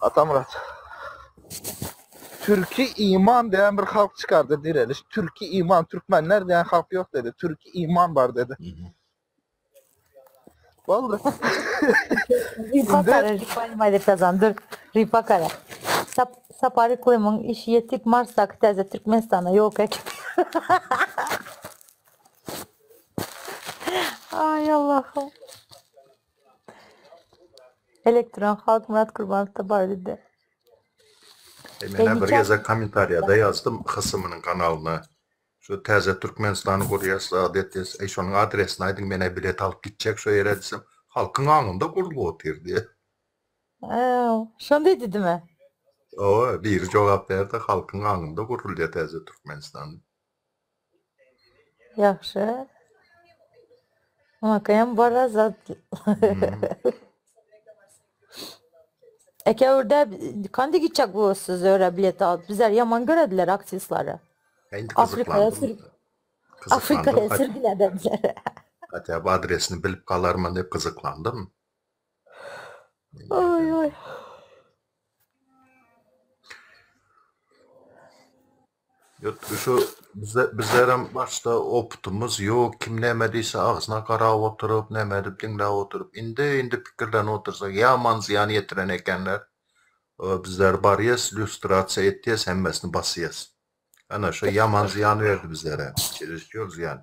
Atamyrat. Türki iman diýen bir halk çykardy direliş. Türki iman, türkmenler diýen halk ýok dedi. Türki iman bar dedi. Boldy. Ripakara, ripaýma edip yazan, dur. Ripakara. Sap, Sapary Klimyň işi ýetik Marsdaky täze Türkmenistana ýok ek. Ay Allah'ım. Elektron halk Murat Gurbanowda bar idi. E, men bir gezek kommentariýada ýazdym Hysymynyň kanalyna. Şu täze Türkmenistany gurýas zat etýäs. Eý şonuň adresini aýdyň menä bilet alyp gitjek şo ýere diýsem halkyň aňynda gurlup otyr diýýä. Äw şonda edidime. Hawa biri jogap berdi halkyň aňynda gurulýa täze Türkmenistan. Ýagşy. Makam bara zat. Eke urde kandi gitjek bu siz öre bilet alyp bizler yaman görediler aktrisleri. Afrikaya sürgün. Afrikaya sürgün edediler. Hatta bu adresini bilip kalarman dep kızıklandım. Oy oy. Ýötde şu bize bizlerem başda opytymyz ýok, kim näme diýse agzyna garap oturyp, näme edip diňläp oturyp, indi indi pikirlenip otursak ýaman zyýan ýetiren ekenler. Ýa bizler barýas, lýustrasiýa etýäs, hemmesini basýas. Ana şu ýaman zyýan berdi bizlere. Çerezçiol zyýan.